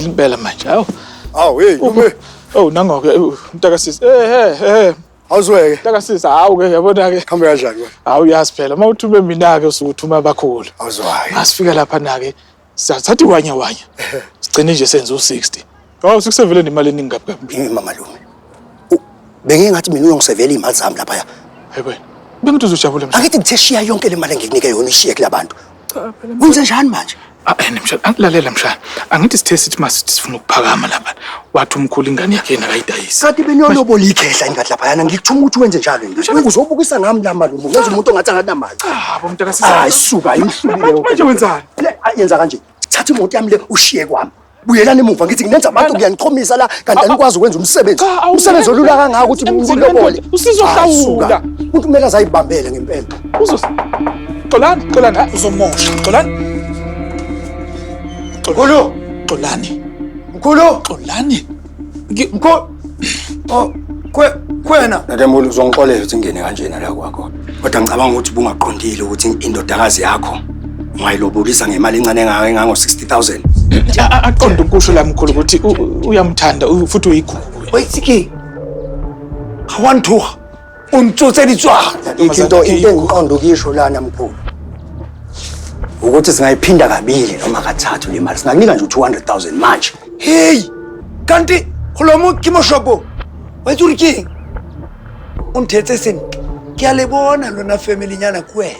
impela manje hawu Awu hey ume. oh nangoke eh, mntakasisi eh eh eh Awuzweke. mntakasisi hawu ke yabona ke Hambe kanjani wena? hawu yazi phela uma uthume mina ke usuke uthuma abakhulu Awuzwayo. masifika lapha nake sathatha iwanya wanya sigcine nje senze u60 hawu sikusevele nemali eningi kabi kabi Yimi mama lume. U- Bengiye ngathi mina uyongisevela imali zami lapha. hayi wena bengithi uzojabula manje Angithi ngithe shiya yonke le mali engikunike yona ishiye kulabantu. Cha phela Kwenze njani manje? Ah, and mshana, angilalela mshana. Angithi sithe sithi masithi sifuna ukuphakama lapha. Wathi umkhulu ingane yakhe yena akayidayisi. Kade beniyolobola ikhehla ingathi laphayana ngikuthuma ukuthi wenze njalo yini? Wewe uzobukisa ngami la mali umuntu. Wenza umuntu ongathi anganamali. Cha, bo mntaka sisa. Hayi suka imhlubile. Manje wenzani? Le ayenza kanje. Thatha imoto yami le ushiye kwami. Buyelani emuva ngithi nginenza abantu ngiyanichomisa la kanti anikwazi ukwenza umsebenzi. Cha, awungeke. Umsebenzi olula kangaka ukuthi Emzini nilobole. wendoda, usizohlawula. Asuka. Umuntu kumele azayibambele ngempela. Uzos. Xolani, xolani, hayi uzomosha. Xolani. Mkhulu, Xolani. mkhulu, Xolani. Mko Oh, kwe kwena. Ngeke mulu uzongixolela ukuthi ngene kanjena la kwakho. Kodwa ngicabanga ukuthi bungaqondile ukuthi indodakazi yakho ungayilobulisa ngemali encane engaka engango 60000. Aqonde ukusho la mkhulu ukuthi uyamthanda futhi uyikhulu. Wayithiki. Hawantuha. Untshuthe litshwala. Ithi into into engiqonda ukuyisho lana mkhulu. Ukuthi singayiphinda kabili noma kathathu le mali. Singakunika nje u200,000 manje. Hey! Kanti kholomo ke moshopo. Wethu uri king. Unthethe sini? Ke a le bona lona family nyana kuwena.